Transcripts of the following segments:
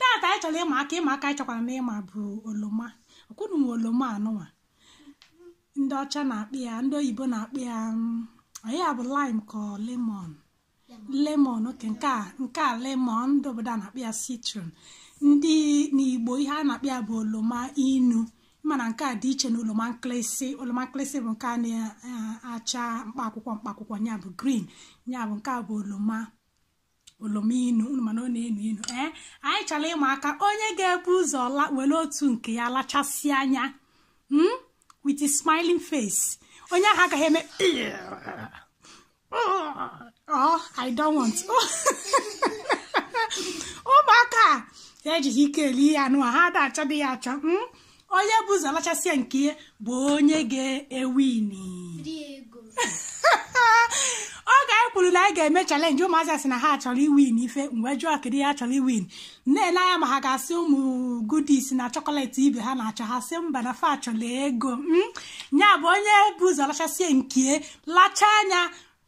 tata anyị chọrọ ịma aka ịma aka anyị chọkwaranụ ịma bụ oloma ọkwa unu nwe oloma anụnwa ndị ọcha na-akpọ ya ndị oyibo na-akpọ ya mm, onye ya bụ lime ka ọ lemon lemon okay nke a nke a lemon ndị obodo a na-akpọ ya citron ndị n'igbo ihe a na-akpọ ya bụ oloma inu mana nke a dị iche na oloma nkịlịsị oloma nkịlịsị bụ nke a na-acha mkpa akwụkwọ mkpa akwụkwọ ya bụ green ya bụ nke a bụ oloma oloma inu unu ma na ọ na-enu inu ee anyị chọrọ ịma aka onye ga-ebu ụzọ la were otu nke ya lachasịa nya mm? with a smiling face onye ahụ agaghị eme oh i don't want ụmụaka a ejighị ike eli ihe anụa ha ada achọdị ya achọ mm? onye bu ụzọ lachasịa nke ya bụ onye ga-ewini oge anyị kwuru na anyị ga-eme challenge ụmụazị asị na ha chọrọ iwin ife m wee jụọ kedu ihe ha chọrọ iwin na-ele anya ma ha ga-asị ụmụ goodies na chocolate ibe ha na-achọ ha sị mba na fa chọrọ ego ya bụ onye bu ụzọ lachasịa nke lachaa nya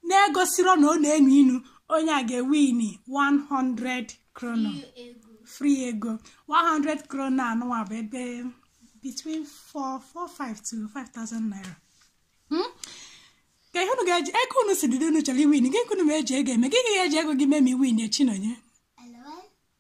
na-egosirọ na ọ na-enu inu onye a ga-ewini 100 kronor free ego 100 kronor anụwa bụ ebe between 445 to 5000 naira hmm? kee ihe unu ga-eji ego unu si dịdo unu chọrọ iwin gịnị ka unu ma-eji ego eme gị ga-eji ego gị mee ma i winie Chinọnye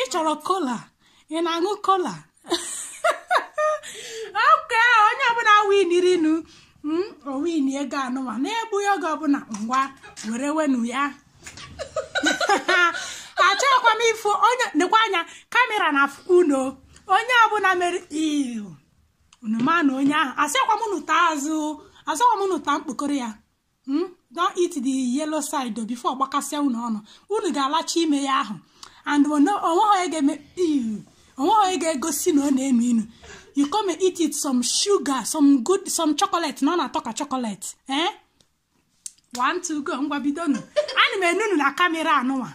ị chọrọ cola ị na-aṅụ cola okay onye ọbụla winirinu hmm, o win ego anụwa na-egbughị oge ọbụla ngwa werewenu ya achọghịkwa m ịfụ onye nekwa anya kamera na-afụkwa unu onye ọbụla mere ihu unu ma na onye ahụ asịkwa m unu taa azụ asịkwa m unu taa mkpokoro ya hmm? don't eat the yellow side before ọ gbakasịa unu ọnụ unu ga-alacha ime ya ahụ and o nweghị onye ga-egosi na ọ na-enu inu you come and eat it some sugar some good some chocolate na ọ na-atọ ka chocolate eh one two go ngwa bidonu ana m ene unu na kamera anụnwa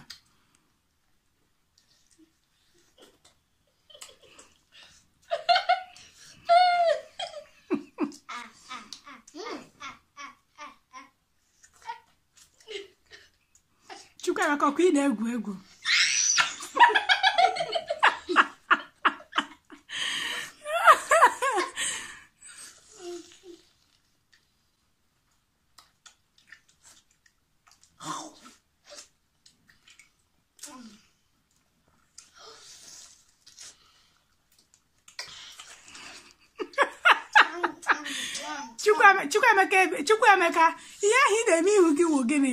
Chukwuemeka ọkwa ị na-egwu egwu Chukwuemeka ihe ahụ ị na-eme ihu gị wụ gịnị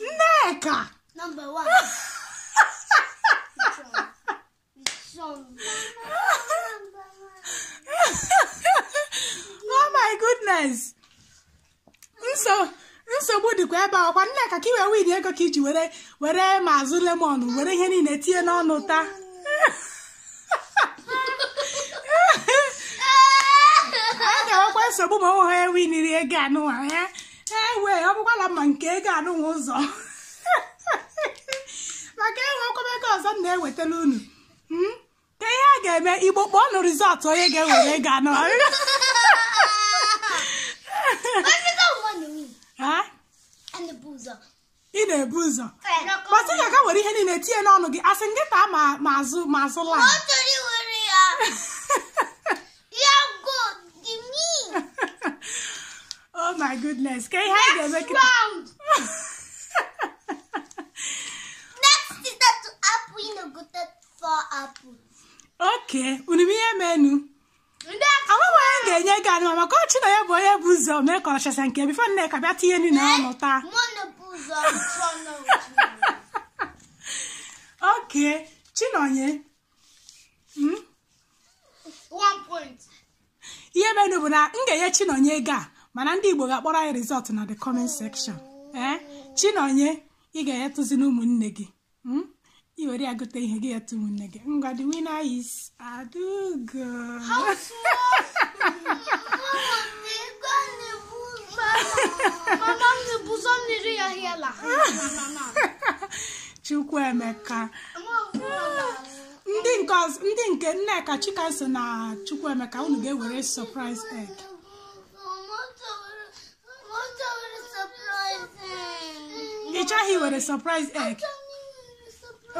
Nneka! Number one. Which one? Which one? Number one. oh my goodness! Nso nsogbu dịkwa ebe a ọkwa Nneka ka i wee win ego ka iji were were ma azụ lemon were ihe niile tinye n'ọnụ taa a ga-enwekwa nsogbu ma ọ nweghị onye winiri ego anụwa ya ewe ọ bụkwala ma nke ego anụwa ụzọ maka enwekwa m ego ọzọ m na-ewetara unu Hmm? ka ihe a ga-eme igbo kpọọnụ result onye ga-ewere ego anụwa. And the buzzer. ị na-ebu ụzọ kpọtụ ya ka were ihe niile tinye n'ọnụ gị asị gị taa ma ma azụ ma azụ laa oh my goodness ka ihe anyị ga-eme kịta okay unu ma ihe menụ ndị aka Ọ nwere onye ga-enye gị anụ maka ọchị na ya bụ onye bu ụzọ mee ka ọchasa nke before Nneka bịa tinye nri na ọnụ taa mmanụ bụ ụzọ chụọ n'otu okay chinonye mm, one point ihe menụ bụ na m ga-enye chinonye ego a mana ndị igbo ga-akpọrọ anyị result na the comment section ee chinonye ị ga-enyetụzi na ụmụnne gị hmm? i were ya gote ihe gị etu ụmụnne gị ngwa the winner is Adugo Chukwuemeka ndị nke ndị nke Nneka Chikaso na Chukwuemeka unu ga-ewere surprise egg ị chọghị iwere surprise egg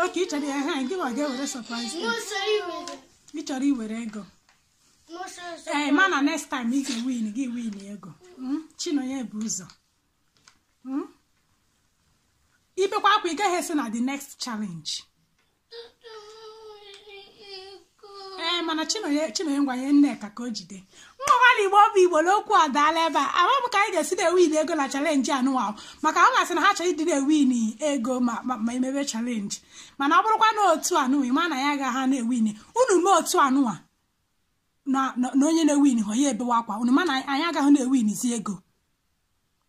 okay ị chọrọ ya ha gị ma ga-ewere surprise egg ị chọrọ iwere ego ee mana next time ị ga-ewin gị win ego Mm, chinonye bu ụzọ Mm? i bekwa akwa ị gaghị eso na the next challenge ee mana chinonye chinonye ngwa nye nneka ka o jide mmakwala igbo bụ igbo na okwu adaala ebe a ama m ka anyị ga-esi na-ewin ego na challenge anụwa maka ọ ga-asị na ha chọrọ ịdị na-ewin ego ma ma ma emebe challenge mana ọ bụrụkwa na otu anụwa ịma na ya ga ha na-ewin unu mee otu anụwa na na- na onye na-ewinhụ ya ebewa akwa unu ma na anyị agaghị na-ewinzi ego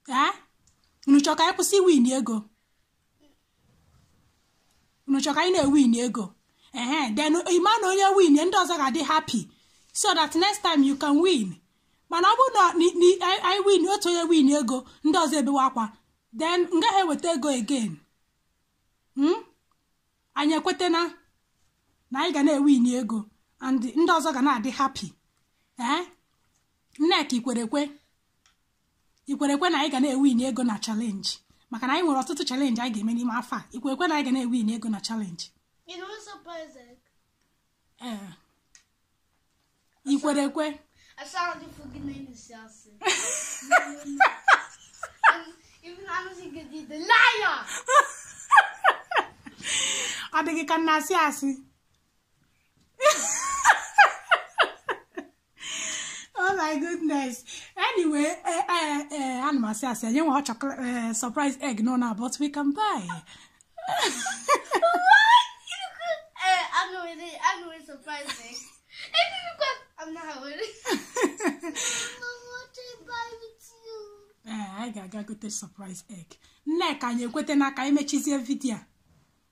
ee unu chọrọ ka anyị kwụsị iwin ego unu chọrọ ka anyị na-ewin ego ehe then ịma na onye win ndị ọzọ ga-adị happy so that next time you can win mana ọ bụrụ na anyị win otu onye win ego ndị ọzọ ebewe akwa then m gaghị eweta ego again hmm? anyị ekwetana na anyị ga na-ewin ego and ndị ọzọ ga na-adị happy ee eh? nneka ikwere ekwe ikwerekwe na anyị ga na-ewin ego na challenge maka na anyị nwere ọtụtụ challenge anyị ga-eme n'ime afọ a ikwerekwe na anyị ga na-ewin ego na challenge ee ikwerekwe ọ dị gị ka m na-asị asị oh my goodness anyway eh, eh, eh, ana m asị asị anyị nwe chocolate surprise egg no na but we can buy anyị ga-aga gote surprise egg nneka anyị ekwetana ka anyị mechizie video a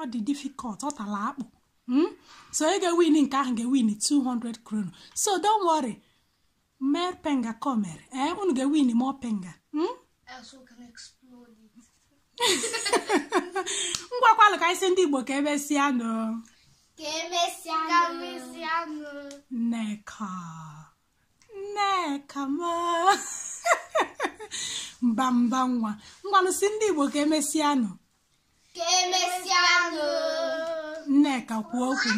ọ dị difficult ọ tala akpụ hmm? so onye ga-ewin nke ahụ ga-ewin 200 kronor so don't worry mer pengar kommer ee eh, unu ga-ewin more pengar hmm? ngwakwalụ ka ị sị ndị Igbo ka emesịa nụ ka emesịa nụ nneka nneka m mba mba nwa ngwanụ sị ndị Igbo ka emesịa nụ ka emesịanụ nneka kwuo okwu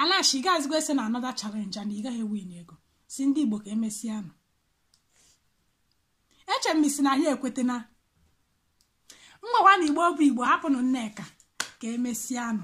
or else ị gaghịzikwa eso na another challenge and ị gaghị win ego sị ndị igbo ka emesịanụ eche m sị na anyị ekwetena mgbawa na igbo bụ igbo hapụnụ nneka ka emesịanụ